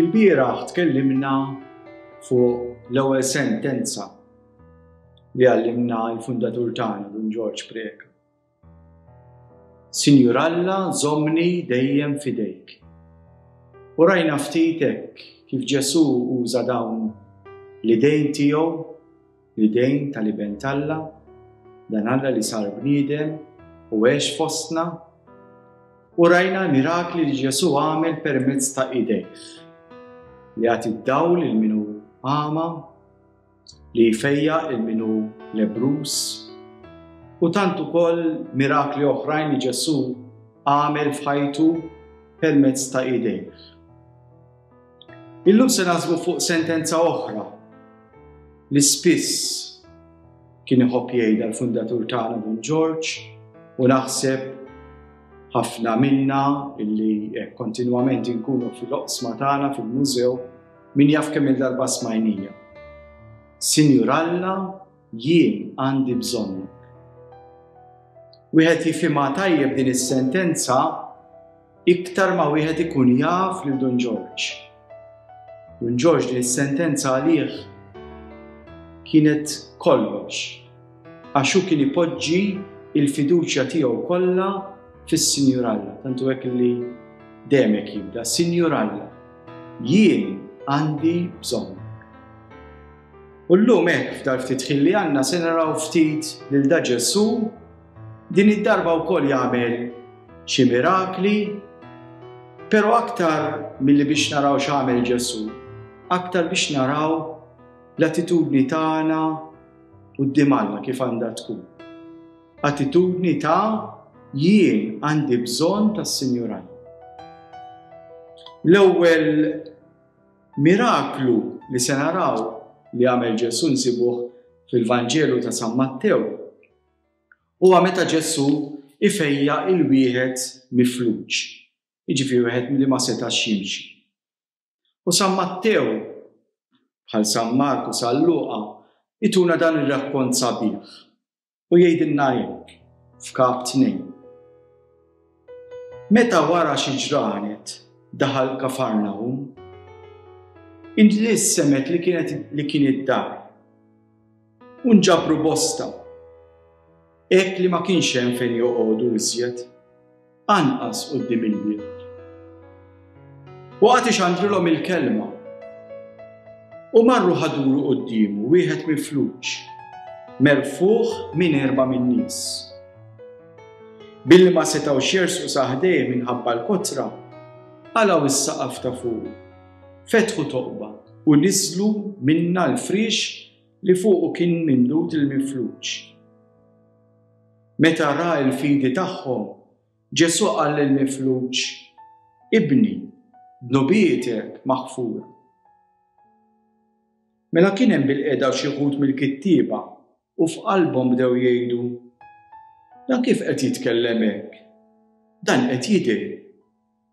Il-bieraħ tkellimna fuq l-ewwel sentenza li għallimna l-fundatur tagħna Dun Ġorġ Preca. Sinjur Alla, żommni dejjem fidejk. U rajna ftit hekk kif Ġesù uża dawn l-idejn tiegħu, l-idejn tal-Iben t'Alla, dan Alla li sar bniedem u għex fostna, u rajna l-mirakli li Ġesù għamel permezz ta' idejh li għati d-dawl il minu għama li jfejja il min hu lebruż u tant ukoll mirakli oħrajn li Ġesù għamel f'ħajtu permezz ta' idejh. Illum se nażmu fuq sentenza oħra li spiss kien iħobb jgħidha l-fundatur tagħna Don George u naħseb ħafna minna illi eh, kontinwament inkunu fil-oqsma tagħna fil-mużew Min jaf kemm-il darba smajnija. Sinjur Alla, jien għandi bżonnu. Wieħed jifhimha tajjeb din is-sentenza iktar ma wieħed ikun jaf lil Dun Ġorġ. Dun Ġorġ din is-sentenza għalih kienet kollox. Għax hu kien ipoġġi l-fiduċja tiegħu kollha fis-Sinjur Alla, tantu hekk li demek jibda, Sinjur Alla, jien għandi bżonn. U llum hekk f'dar ftit ħin li għandna se naraw ftit lil da Ġesù din id-darba wkoll jagħmel xi mirakli, però aktar milli biex naraw x'għamel Ġesù, aktar biex naraw l-attitudni tagħna quddiem Alla kif għandha tkun. Attitudni ta' jien għandi bżonn tas-Sinjur Alla. L-ewwel miraklu li se naraw li għamel Ġesu nsibuh fil-Vanġelu ta' San Mattew huwa meta Ġesu ifejja il-wieħed mifluġ, jiġifieri wieħed li ma setax jimxi. U San Mattew, bħal San Mark u San Luqa, ituna dan ir-rakkont sabiħ u jgħidilna hekk f'Kap Tnejn. Meta wara xi ġranet daħal Kafarnahum, inġlies semgħet li kienet li kien id-dar. U nġabru bosta. Hekk li ma kienx hemm fejn joqogħdu iżjed, anqas quddiem il-bieb. Waqgħet ixandrilhom il-kelma. U marru ħaduru quddiemu wieħed mifluġ, merfuħ minn erba' min-nies. Billi ma setgħu xersu saħdej minħabba l-kotra, għalaw is-saqaf ta' fuq, fetħu toqba u niżlu minna l-frix li fuqu kien mimdud il-mifluġ. Meta ra l-fidi tagħhom, Ġesù qal lill-mifluġ, Ibni, dnubietek maħfura. Mela kien hemm bil-qeda xi ħut mill-kittieba u f'qalbhom bdew jgħidu, Dan kif qed jitkellem hekk? Dan qed jidher.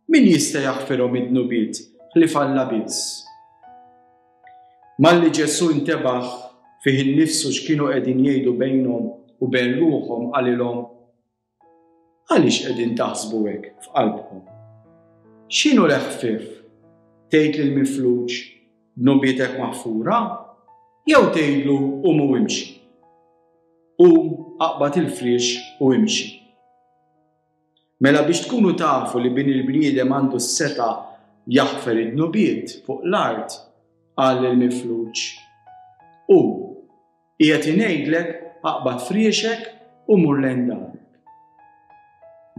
Min jista' jaħfirhom id-dnubiet ħlief Alla biss? Malli Ġesù intebaħ fih innifsu x'kienu qegħdin jgħidu bejnhom u bejn ruħhom qalilhom, Għaliex qegħdin taħsbu hekk f'qalbkom? X'inhu l-eħfief? Tgħid lill-mifluġ, Dnubietek maħfura? Jew tgħidlu, Qum u imxi? Qum, aqbad il-friex u imxi. Mela biex tkunu tafu li bin il-bniedem għandu s-seta jaħfer id-dnubiet fuq l-art, qal il-mifluġ, Hu, qiegħed ingħidlek aqbad friexek u mur lejn darek.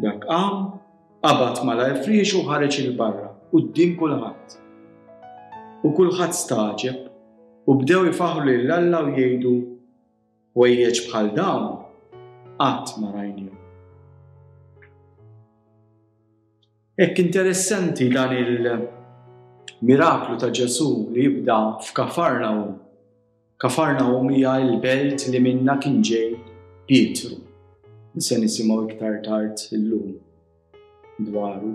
Dak qam, qabad malajr friexu u ħareġ il-barra, quddiem kulħadd. U kulħadd stagħġeb u bdew ifaħħru lil Alla u jgħidu, Ħwejjeġ bħal dawn qatt ma rajnihom. Hekk interessanti dan il-miraklu ta' Ġesu li jibda f'Kafarnaum. Kafarnaum hija l-belt li minna kien ġej Pietru. Se nisimgħu iktar tard illum. dwaru.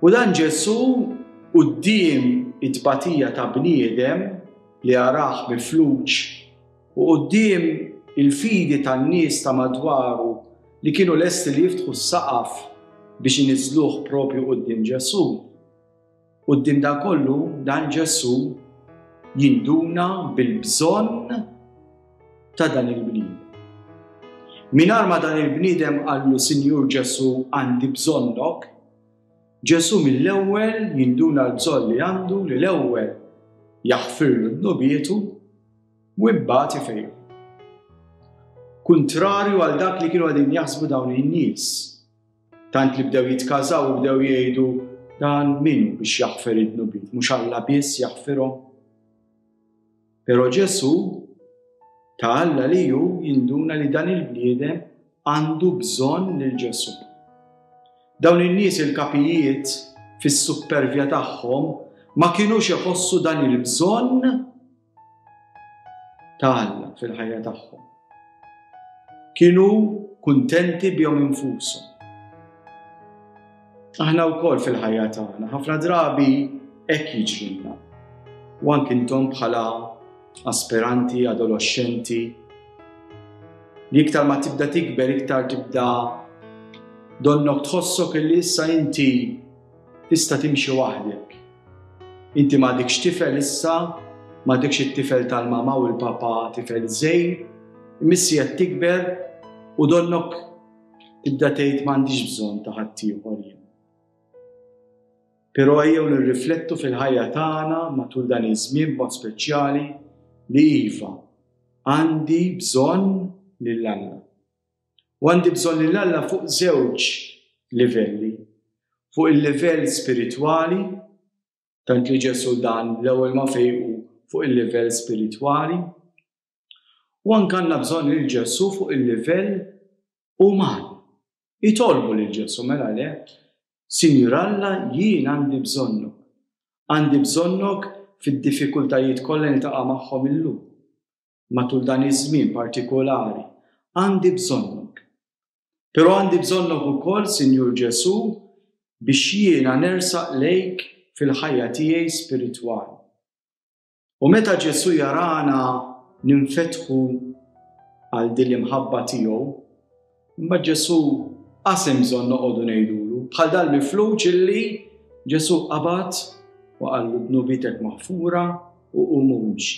U dan Ġesù quddiem it-tbatija ta' bniedem li jarah mifluġ u quddiem il-fidi tan-nies ta' madwaru li kienu lesti li jiftħu s-saqaf biex iniżżluh proprju quddiem Ġesù, Quddiem dan kollu, dan Ġesù jinduna bil-bżonn ta' dan il-bniedem. Minar ma dan il-bniedem għallu Sinjur Ġesù għandi bżonnok, Ġesù mill-ewwel jinduna l-bżonn li għandu li l-ewwel jaħfirlu d-nubietu u imbagħad ifejju. Kuntrarju għal dak li kienu għadin jaħsbu dawn in-nies, Tant li bdew jitkażaw u bdew jgħidu dan minu biex jaħfer id-dnubiet, mhux Alla biss jaħfirhom. Però Ġesu ta' Alla li ju jinduna li dan il-bniedem għandu bżonn lil Ġesu. Dawn in-nies il-kapijiet fis-suppervja tagħhom ma kienux iħossu dan il-bżonn ta' Alla fil-ħajja tagħhom. Kienu kuntenti bihom infushom. Aħna wkoll fil-ħajja tagħna ħafna drabi hekk jiġrilna. U anke intom bħala aspiranti, adolescenti, li iktar ma tibda tikber, iktar tibda donnok tħossok li issa inti Tista' timxi waħdek. Inti m'għadekx tifel issa, m'għadekx it-tifel tal-mama u l-papa tifel żgħir, imissi qed tikber u donnok tibda tgħid m'għandix bżonn ta' ħaddieħor jien. Però ejjew nirriflettu fil-ħajja tagħna matul dan iż-żmien b'mod speċjali li iva, għandi bżonn lil Alla. U għandi bżonn lil Alla fuq żewġ livelli. Fuq il-livell spiritwali, tant li Ġesu dan l-ewwel ma fejqu fuq il-livell spiritwali. U anke għandna bżonn lil Ġesu fuq il-livell uman. Itolbu lil Ġesu mela le, Sinjur Alla jien għandi bżonnu. Għandi bżonnok fid-diffikultajiet kollha niltaqa' magħhom illum. matul dan iż-żmien partikolari. Għandi bżonnok. Però għandi bżonnok ukoll, Sinjur Ġesù, biex jiena nersaq lejk fil-ħajja tiegħi spiritwali. U meta Ġesù jarana ninfetħu għal din l-imħabba tiegħu, imma Ġesù qasem bżonn noqogħdu ngħidulu bħal dal-mifluġ illi Ġesù qabad u qallu dnubitek maħfura u qum imxi.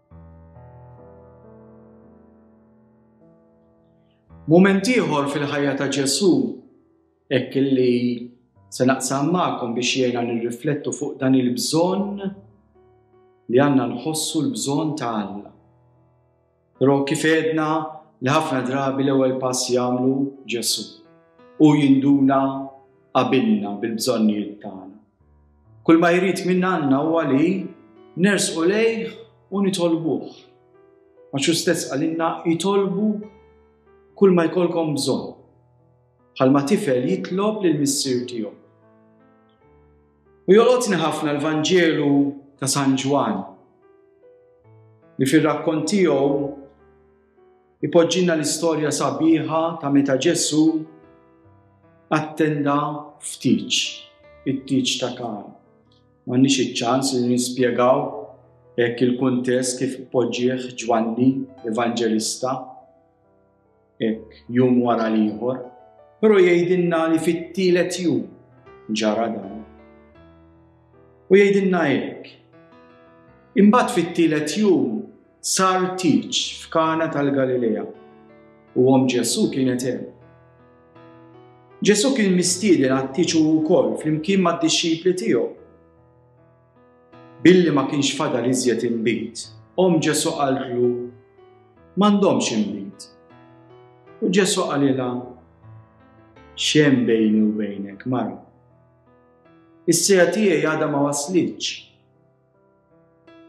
Mument ieħor fil-ħajja ta' Ġesu, hekk illi se naqsam magħkom biex jgħinna nirriflettu fuq dan il-bżonn li għandna nħossu l-bżonn ta' Alla. Però kif edna li ħafna drabi l-ewwel pass jagħmlu Ġesu u jinduna qabilna bil-bżonnijiet tagħna. Kull ma jrid minn għandna huwa li nersqu lejh u nitolbuh. Għax hu stess għalinna jitolbu kull ma jkollkom bżonn. Bħalma tifel jitlob lil missier tiegħu. U jolqotni ħafna l-Vanġelu ta' San Ġwan li fir-rakkont tiegħu Ipoġġina l-istorja sabiħa ta' meta Ġesu attenda ftiċ, it-tiċ ta' kan. M'għandniex iċ-ċans li nispjegaw hekk il-kuntest kif poġġieħ Ġwanni, Evanġelista, hekk jum wara l-ieħor, però jgħidilna li fit-tielet jum ġara dan. U jgħidilna hekk. Imbagħad fit-tielet jum Sar tieġ f'Kana tal-Galilea u omm Ġesù kienet hemm. Ġesù kien mistieden għat-tieġ u wkoll flimkien mad-dixxipli tiegħu. Billi ma kienx fadal iżjed inbid, omm Ġesù qaltlu m'għandhomx inbid. U Ġesù qalilha xem bejni u bejnek, mara. Is-sija tiegħi għadha ma waslitx.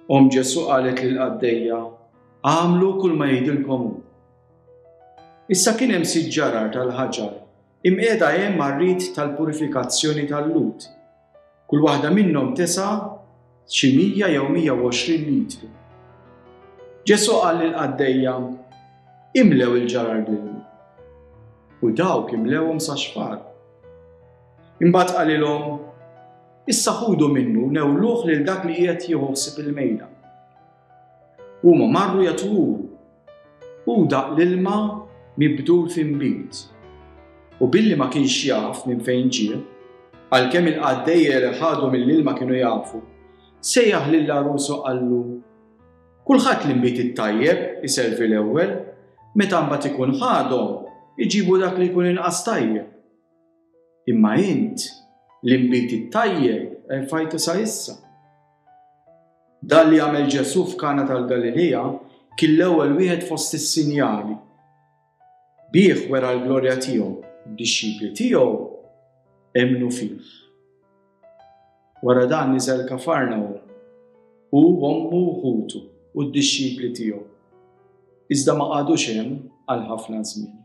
Om Ġesu qalet lil qaddejja, għamlu kull ma jgħidilkom hu. Issa kien hemm sitt ġarar tal-ħaġar imqiegħda hemm għar-rit tal-purifikazzjoni tal-lut. Kull waħda minnhom tesa' xi 100 jew 120 litru. Ġesu qal lil qaddejja, imlew il-ġarar bl-ilma. U dawk imlewhom sa xfar. Imbagħad qalilhom, Issa ħudu minnu newluh lil dak li qiegħed jieħu ħsieb il-mejda. Huma marru jatwuru u daq l-ilma mibdul f'inbid. U billi ma kienx jaf minn fejn ġie, għalkemm il-qaddejja li ħadu mill-ilma kienu jafu, sejjaħ lil l-għarus u qallu, Kulħadd li nbid it-tajjeb iservi l-ewwel, meta mbagħad ikun ħadhom, iġibu dak li jkun inqas tajjeb. Imma int, l-inbid it-tajjeb erfajtu sa issa. Dan li għamel Ġesu f'Kana tal-Galilija kien l-ewwel wieħed fost is-sinjali. Bih wera l-glorja tiegħu, d-dixxipli tiegħu emnu fih. Wara dan niżel kafarna u u ommu ħutu u d-dixxipli tiegħu. Iżda ma qagħdux hemm għal ħafna żmien.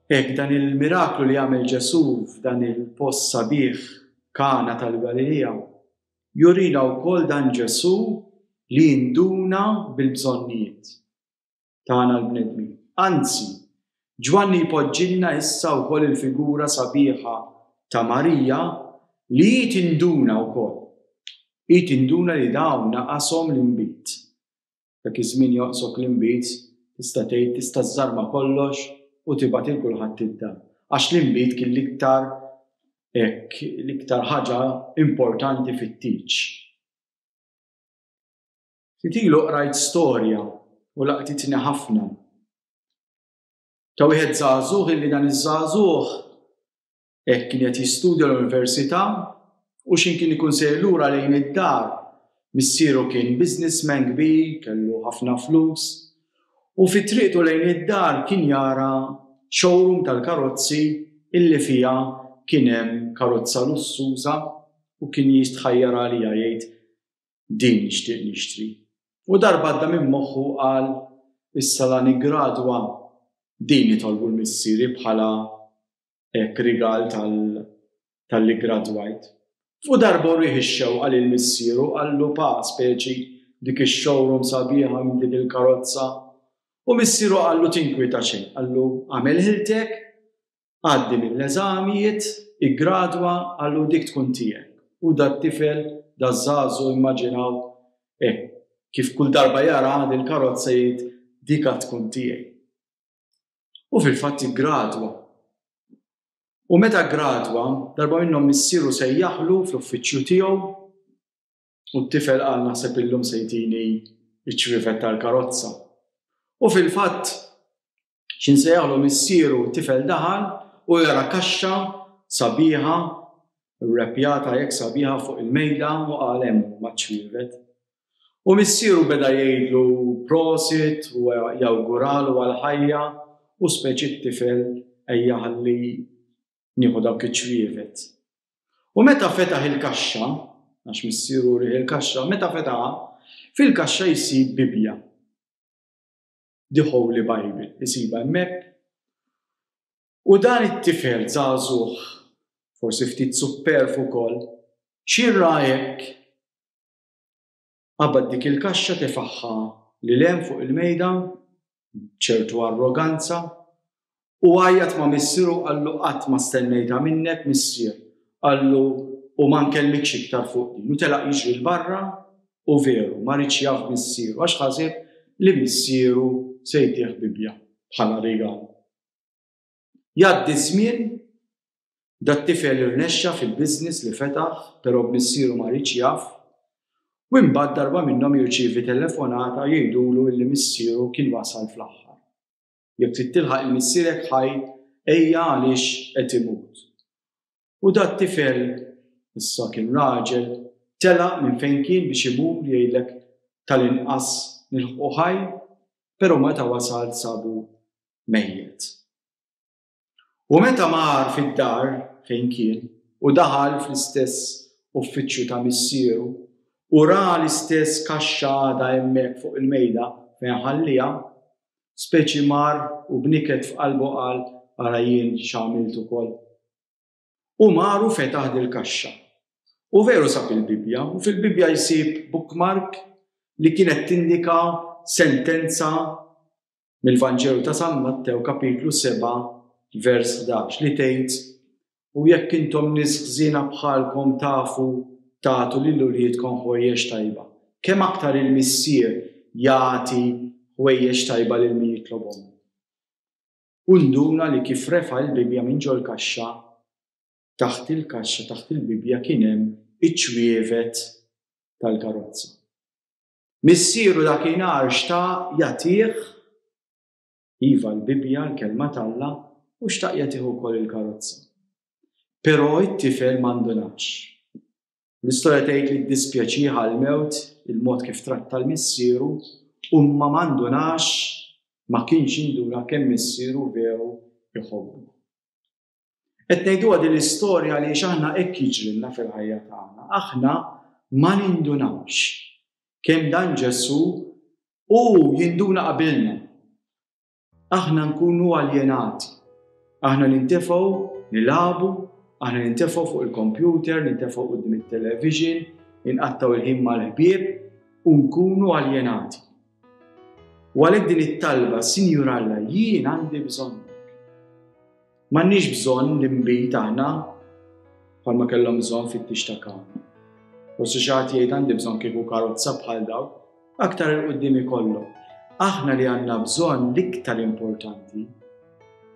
Hekk dan il-miraklu li għamel Ġesù f'dan il-post sabiħ Kana tal-Galilija jurina wkoll dan Ġesù li jinduna bil-bżonnijiet tagħna l-bnedmin. Anzi, Ġwanni jpoġġilna issa wkoll il-figura sabiħa ta' Marija li hi tinduna wkoll. Hi tinduna li dawn naqashom l-inbid. Dak iż-żmien joqsok l-inbid, tista' tgħid, tista' żżarma kollox u tibgħat lil kulħadd id-dar. Għax l-inbid kien l-iktar hekk l-iktar ħaġa importanti fit-tieġ. Ftit ilu qrajt storja u laqtitni ħafna. Ta' wieħed żagħżugħ illi dan iż-żagħżugħ Hekk kien qed jistudja l-università u x'in kien ikun sejr lura lejn id-dar. Missieru kien businessman kbir, kellu ħafna flus, u fi triqtu lejn id-dar kien jara showroom tal-karozzi illi fiha kien hemm karozza lussuża u kien jistħajjar għaliha jgħid, Din nixtieq nixtri. U darba għadda minn moħħu qal, Issa la niggradwa, din itolbu l-missieri bħala hekk rigal tal-li gradwajt. U darba wrieh ix-xewqa lil missieru qallu pa speċi dik ix-showroom sabiħa minn dik il-karozza. U missieru qallu tinkwieta xejn, qallu għamel ħiltek, għaddi mill-eżamijiet, iggradwa, qallu dik tkun tiegħek. U dat-tifel, daż-żagħżugħ immaġinaw hekk kif kull darba jara dil-karozza jgħid dik għad tkun tiegħi. U fil-fatt iggradwa. U meta gradwa, darba minnhom missieru se jaħlu fl-uffiċċju tiegħu u t-tifel qal naħseb illum se jtini ċ-ċrifet tal-karozza. U fil-fatt xin se jaħlu missieru tifel daħal u jara kaxxa sabiħa repjata jekk sabiħa fuq il-mejda u għalem maċ-ċrifet. U missieru beda jgħidlu prosit u jawguralu għall-ħajja u speċi t-tifel ejja ħalli nieħu dawk iċ-ċwievet. U meta fetaħ il-kaxxa, għax missieru urih il-kaxxa, meta fetaħha, fil-kaxxa jsib Bibbja. The Holy Bible, isibha hemmhekk. U dan it-tifel żagħżugħ, forsi ftit supperf ukoll, xirra hekk Qabad dik il-kaxxa tefagħha 'l hemm fuq il-mejda b'ċertu arroganza u għajjat ma' missieru u qallu qatt ma stennejtha minnek missier, qallu u ma nkellmikx iktar fuq din u telaq jiġri 'l barra u veru ma riedx jaf b'missieru għax ħaseb li missieru se jtih bibbja bħala rigal. Jgħaddi ż-żmien, dat-tifel irnexxa fil-business li fetaħ però b'missieru ma riedx jaf u imbagħad darba minnhom jirċievi telefonata jgħidulu illi missieru kien wasal fl-aħħar. Jekk trid tilħaq il-missierek ħaj ejja għaliex qed imut. U dat tifel, issa kien raġel, telaq minn fejn kien biex imur jgħidlek tal-inqas nilħqu ħaj, pero meta wasal sabu mejjet. U meta mar fid-dar fejn kien u daħal fl-istess uffiċċju ta' missieru u ra l-istess kaxxa għada hemmhekk fuq il-mejda fejn ħallija, speċi mar u b'niket f'qalbu qal ara jien x'għamilt ukoll. U mar u fetaħ dil-kaxxa. U veru sab il-Bibbja, u fil-Bibbja jsib bookmark li kienet tindika sentenza mill-Vanġelu ta' San Mattew kapitlu 7 vers 11 li tgħid u jekk intom nies ħżiena bħalkom tafu tagħtu lil uliedkom ħwejjeġ tajba, kemm aktar il-Missier jagħti ħwejjeġ tajba lil min jitlobhom! U nduna li kif refa' l-Bibbja minn ġol-kaxxa, taħt il-kaxxa, taħt il-Bibbja kien hemm iċ-ċwievet tal-karozza. Missieru dakinhar xtaq jagħtih Iva, l-Bibbja, l-Kelma t'Alla, u xtaqja tieħu wkoll il-karozza. Però it-tifel ma ndunatx. L-istorja tgħid li ddispjaċiha l-mewt il-mod kif tratta l-missieru u ma mandunax ma kienx induna kemm missieru vew iħobbu. Qed ngħiduha din l-istorja li aħna hekk jiġrilna fil-ħajja tagħna. Aħna ma nindunawx kemm dan Ġesu u jinduna qabilna. Aħna nkunu aljenati. Aħna nintefgħu nilabu, aħna nintefgħu fuq il-kompjuter, nintefgħu qudiem it-television, inqattaw il-ħin mal-ħbieb u nkunu aljenati. U għalhekk din it-talba, Sinjur Alla, jien għandi bżonn. M'għandniex bżonn li nbid aħna bħalma kellhom bżonn fit-tix ta' kawn. U si xaħat jgħid għandi bżonn kieku karozza bħal daw, aktar il-qoddim ikollhom. Aħna li għandna bżonn l-iktar importanti.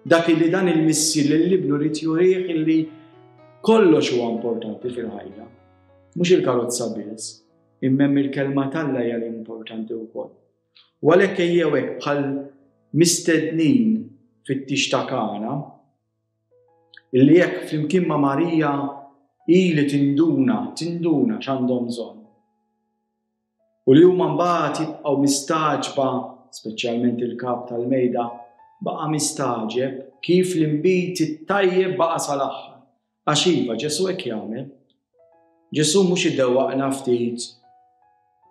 Dak li dan il-missi li l-libnu rrit jurih li kollox huwa importanti fil-ħajja. Mhux il-karozza biss. imma hemm il-kelma t'Alla hija l-importanti wkoll. U għalhekk ejjew hekk bħal mistednin fit-tix ta' Kana, illi jekk flimkien ma' Marija ili tinduna, tinduna x'għandhom bżonn. U li huma mbagħad jibqgħu mistaġba, speċjalment il-kap tal-mejda, baqa' mistaġeb kif l-imbit it-tajjeb baqa' sal-aħħar. Għax iva, Ġesu hekk jagħmel. Ġesu mhux idewwaqna ftit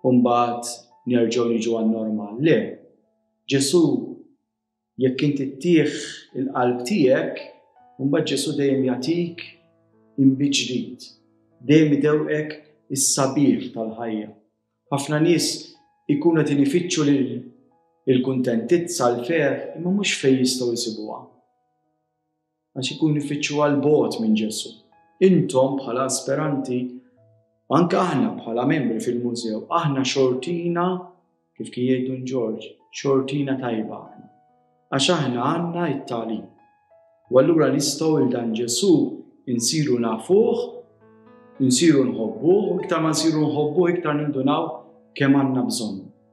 u mbagħad nerġgħu niġu għan-normal. Le, Ġesu jekk inti ttieħ il-qalb tiegħek, mbagħad Ġesu dejjem jagħtik imbiġdid. Dejjem idewqek is-sabiħ tal-ħajja. Ħafna nies ikunu qed inifittxu lil il-kuntentizza l-fer imma mhux fejn jistgħu jsibuha. għax ikun ifittxu għal bogħod minn Ġesu. Intom bħala asperanti, anke aħna bħala membri fil-mużew, aħna xortina, kif kien jgħidu Ġorġ, xortina tajba aħna. Għax aħna għandna it-talim. U allura nistgħu il dan Ġesu insiru nafuh, insiru nħobbuh, iktar ma nsiru nħobbuh iktar nindunaw kemm għandna bżonn.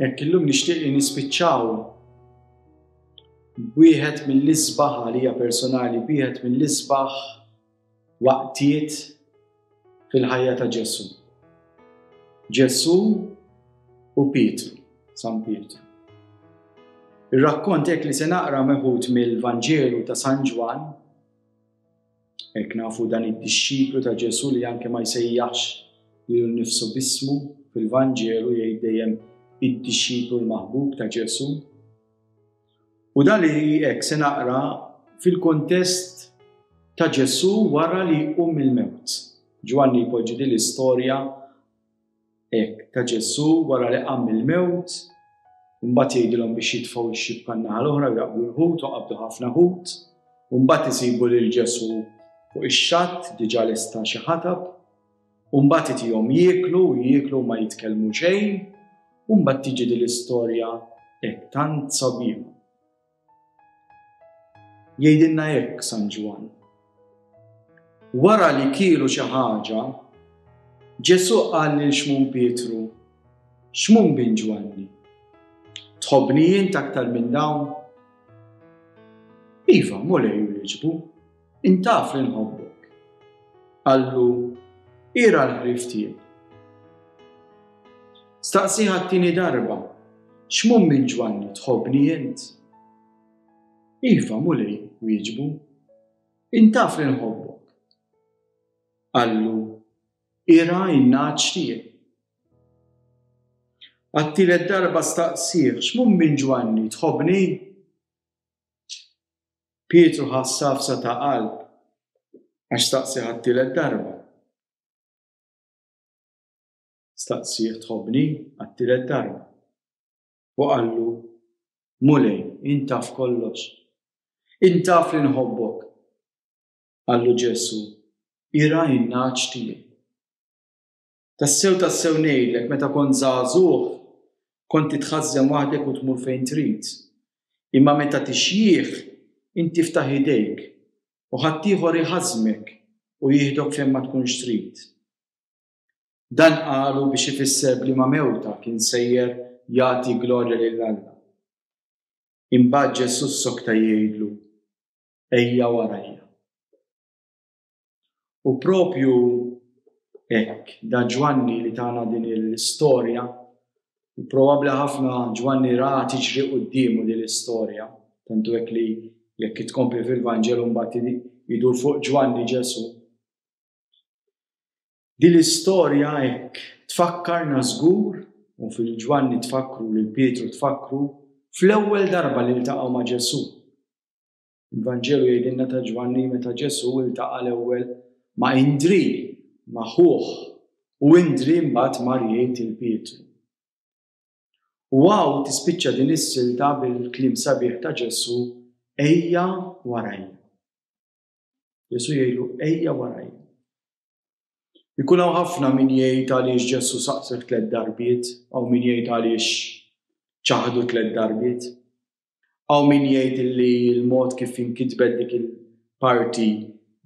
Jekk illum nixtieq li nispiċċaw wieħed mill-isbaħ għalija personali, wieħed mill-isbaħ waqtiet fil-ħajja ta' Ġesu. Ġesu u Pietru, San Pietru. Ir-rakkont hekk li se naqra meħud mill-Vanġelu ta' San Ġwan Hekk nafu dan id-dixxiplu ta' Ġesu li anke ma jsejjaħx li nifsu bismu fil-Vanġelu jgħid dejjem id-dixxiplu l-maħbub ta' Ġesu. U dan li hekk se naqra fil-kontest ta' Ġesu wara li jqum il-mewt. Ġwanni jpoġġi din l-istorja Hekk, ta' Ġesù wara li qam mill-mewt, imbagħad jgħidilhom biex jitfgħu x-xibka n-naħa l-oħra u jaqbdu l-ħut u qabdu ħafna ħut, u mbagħad isibu lil Ġesù fuq ix-xatt diġà lesta xi ħatab, u mbagħad itihom jieklu u jieklu ma jitkellmu xejn, u mbagħad tiġi din l-istorja hekk tant sabiħa. Jgħidilna hekk San Ġwann. Wara li kielu xi ħaġa, Ġesù qal lil Xmun Pietru, Xmun bin Ġwanni, tħobbni jien aktar minn dawn? Iva, mulej u liġbu. Int taf li nħobbok. Qallu, Ira l-ħrief tiegħi. Staqsiha t-tieni darba, X'mum minn Ġwanni tħobbni int? Iva, Mulej, wieġbu. Int taf li nħobbok. Qallu, Ira n-nagħaġ tiegħi. Għat-tielet darba staqsih, X'mum minn Ġwanni tħobbni? Pietru ħa safsa ta' qalb għax staqsi għat-tielet darba. Staqsi tħobni għat-tielet darba. U qallu, Mulej, intaf kollox. Intaf li nħobbok. Qallu Ġesu, ira in-naċ tiegħi. Tassew tassew ngħidlek meta kont żagħżugħ kont titħażżen waħdek u tmur fejn trid. Imma meta tixjieħ int tiftaħ idejk u ħaddieħor iħażżmek u jieħdok fejn ma tkunx trid. Dan qalu biex ifisser b'liema mewta kien sejjer jagħti glorja lil Alla. Imbagħad Ġesù ssokta jgħidlu, Ejja warajja. U propju hekk, da Ġwanni li tana din l-istorja, probabbli ħafna Ġwanni ra tiġri quddiemu din l-istorja, tantu hekk li jekk tkompli fil-Vanġelu mbagħad jidur fuq Ġwanni Ġesù. Din l-istorja hekk tfakkarna żgur, u fil Ġwanni tfakkru lil Pietru tfakkru, fl-ewwel darba li ltaqgħu ma' Ġesù. Il-Vanġelu jgħidilna ta' Ġwanni li meta Ġesù ltaqa' l-ewwel ma' Indrì, ma' ħuh, u Indrì mbagħad mar jgħid lil Pietru. U hawn tispiċċa din is-silta bil-kliem sabiħ ta' Ġesù, Ejja warajja. Ġesù jgħidlu, Ejja warajja. Ikun hawn ħafna min jgħid għaliex Ġesù saqsek tliet darbiet, hawn min jgħid għaliex ċaħdu tliet darbiet. Hawn min jgħid li l-mod kif inkitbet dik il-parti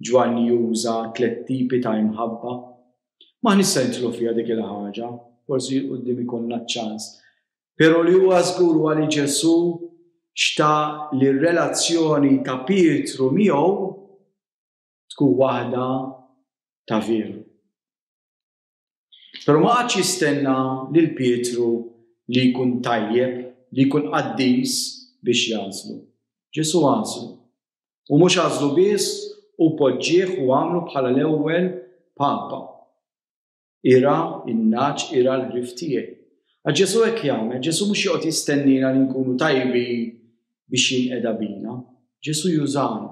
Ġwanni juża tliet tipi ta' imħabba. Ma nista' nidħlu fiha dik il-ħaġa, forsi quddiem ikollna ċ-ċans. Però li huwa żgur huwa li Ġesù xta li r-relazzjoni ta' Pietru miegħu tkun waħda ta' veru. Pero ma għadx jistenna lil Pietru li jkun tajjeb, li jkun qaddis biex jazlu. Ġesu għazlu. U mux għazlu biss u poġġieħ u għamlu bħala l-ewwel papa. Ira in-naċ, ira l-ħrif tiegħi. Ġesu hekk jagħmel, Ġesu mhux joqgħod jistennina li nkunu tajbi biex jinqeda bina. Ġesu jużana.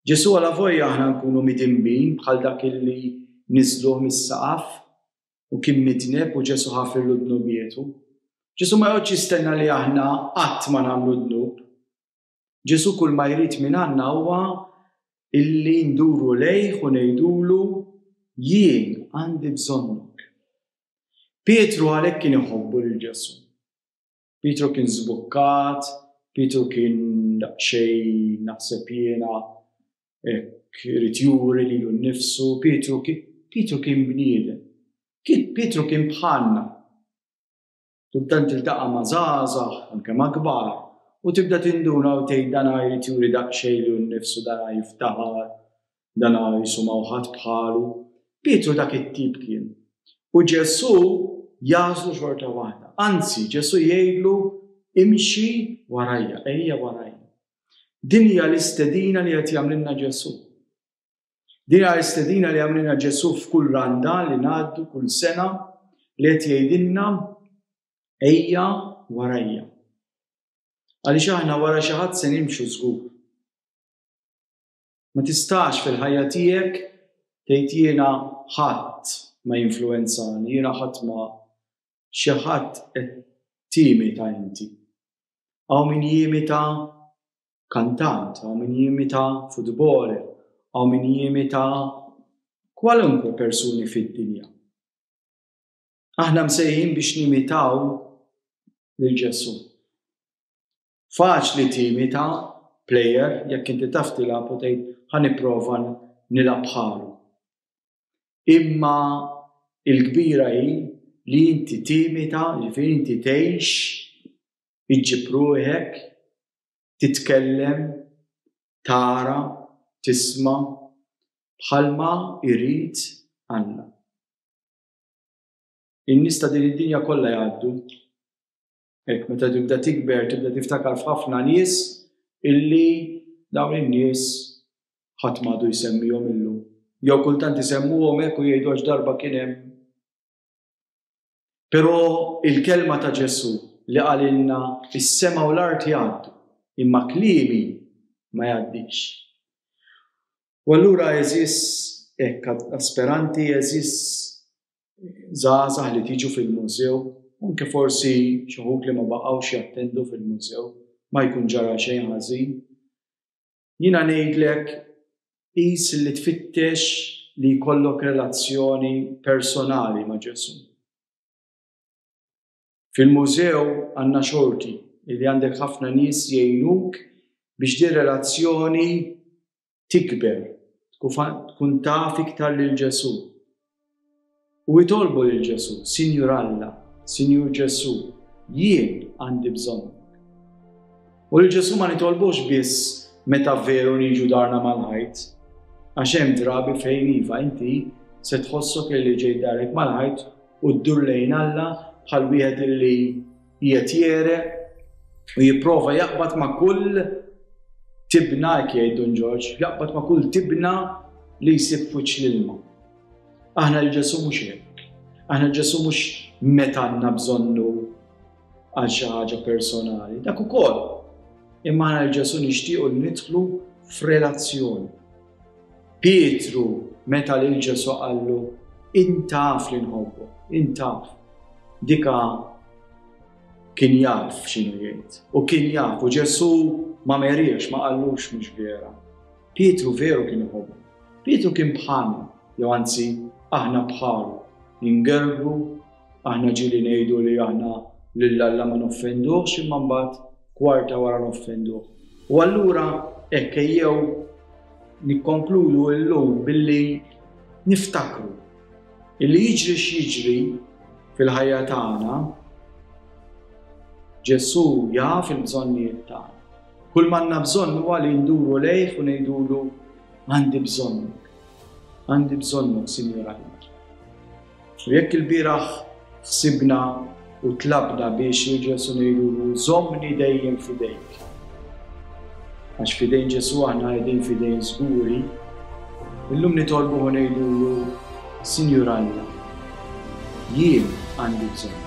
Ġesu għala vojja aħna nkunu midinbin bħal dak illi niżluh mis-saqaf u kien midneb u Ġesu ħafirlu dnubietu. Ġesu ma joqgħodx jistenna li aħna qatt ma nagħmlu dnub. Ġesu kull ma jrid minn għandna huwa illi nduru lejh u ngħidulu jien għandi bżonnok. Pietru għalhekk kien iħobbu lil Ġesu. Pietru kien żbukkat, Pietru kien daqsxejn naħseb jiena hekk irid juri lilu nnifsu, Pietru kien, Pietru kien bniedem. Kien, Pietru kien bħalna. Kultant tiltaqa' ma' żgħażagħ, anke ma' kbar, u tibda tinduna u tgħid dan jrid juri daqsxejn lilu nnifsu, dan jiftaħar, Dan ara Ġesu ma ħadd bħalu. Pietru dak it-tip kien. U Ġesu jażlu xorta waħda. Anzi, Ġesu jgħidlu imxi warajja, ejja warajja. Din hija l-istedina li qed jagħmlilna Ġesu. Din hija l-istedina li jagħmlilna Ġesu f'kull randa li ngħaddu kull sena li qed jgħidilna ejja warajja. Għaliex aħna wara xi ħadd se nimxu żgur. Ma tistax fil-ħajja tiegħek tgħid jiena ħadd ma jinfluwenzani, jiena ħadd ma xi ħadd qed timita inti. Hawn min jimita kantant, hawn min jimita futboler, hawn min jimita kwalunkwe persuni fid-dinja. Aħna msejħin biex nimitaw lil Ġesu. Faċli timita plejer jekk inti taf tilgħab u tgħid ħa nipprova nilgħab bħalu. Imma il-kbira hi li inti timita, jiġifieri inti tgħix, iġġib ruħek, titkellem, tara, tisma' bħalma jrid Alla. In-nies ta' din id-dinja kollha jgħaddu, Hekk meta tibda tikber tibda tiftakar f'ħafna nies illi dawn in-nies ħadd m'għadu jsemmihom illum. Jew kultant isemmuhom hekk u jgħidu għax darba kien hemm. Però il-kelma ta' Ġesù li qalilna is-sema u l-art jgħaddu, imma kliemi ma jgħaddix. U allura eżis hekk asperanti, eżis żgħażagħ li tiġu fil-mużew, anke forsi xi wħud li ma baqgħux jattendu fil-mużew, ma jkun ġara xejn ħażin. Jiena ngħidlek qis li tfittex li jkollok relazzjoni personali ma' Ġesu. Fil-mużew għandna xorti li għandek ħafna nies jgħinuk biex din relazzjoni tikber, tkun taf iktar lil Ġesù. U itolbu lil Ġesù, Sinjur Alla, Sinjur Ġesù, jien għandi bżonn. U lil Ġesù ma nitolbux biss meta veru niġu darna mal-ħajt, għax hemm drabi fejn iva inti se tħossok li ġej darek mal-ħajt u ddur lejn Alla bħal wieħed li qiegħed jegħreq u jipprova jaqbad ma' kull tibna hekk jgħid Dun Ġorġ, jaqbad ma' kull tibna li jsib f'wiċċ l-ilma. Aħna l-Ġesu mhux hekk. Aħna l-Ġesu mhux meta għandna bżonnu għal xi ħaġa personali, dak ukoll. Imma aħna l-Ġesu nixtiequ li nidħlu f'relazzjoni. Pietru meta lil Ġesu qallu intaf li nħobbu, intaf. Dika kien jaf x'inhu jgħid u kien jaf u Ġesu ma meriex ma qallux mhux vera. Pietru veru kien iħobbu. Pietru kien bħalna, jew anzi aħna bħalu, ingerbu Aħna ġieli ngħidu li aħna lil Alla ma noffenduhx imma mbagħad kwarta wara noffenduh. U allura hekk ejjew nikkonkludu llum billi niftakru illi jiġri x'jiġri fil-ħajja tagħna Ġesù jaf il-bżonnijiet tagħna. Kull manna bżonn huwa li nduru lejh u ngħidulu għandi bżonnok. Għandi bżonnok, Sinjur Alla. U jekk ilbieraħ ħsibna u tlabna biex lil Ġesù ngħidulu żommni dejjem f'idejk. Għax f'idejn Ġesù aħna qegħdin f'idejn żguri, illum nitolbuh u ngħidulu Sinjur Alla, jien għandi bżonn.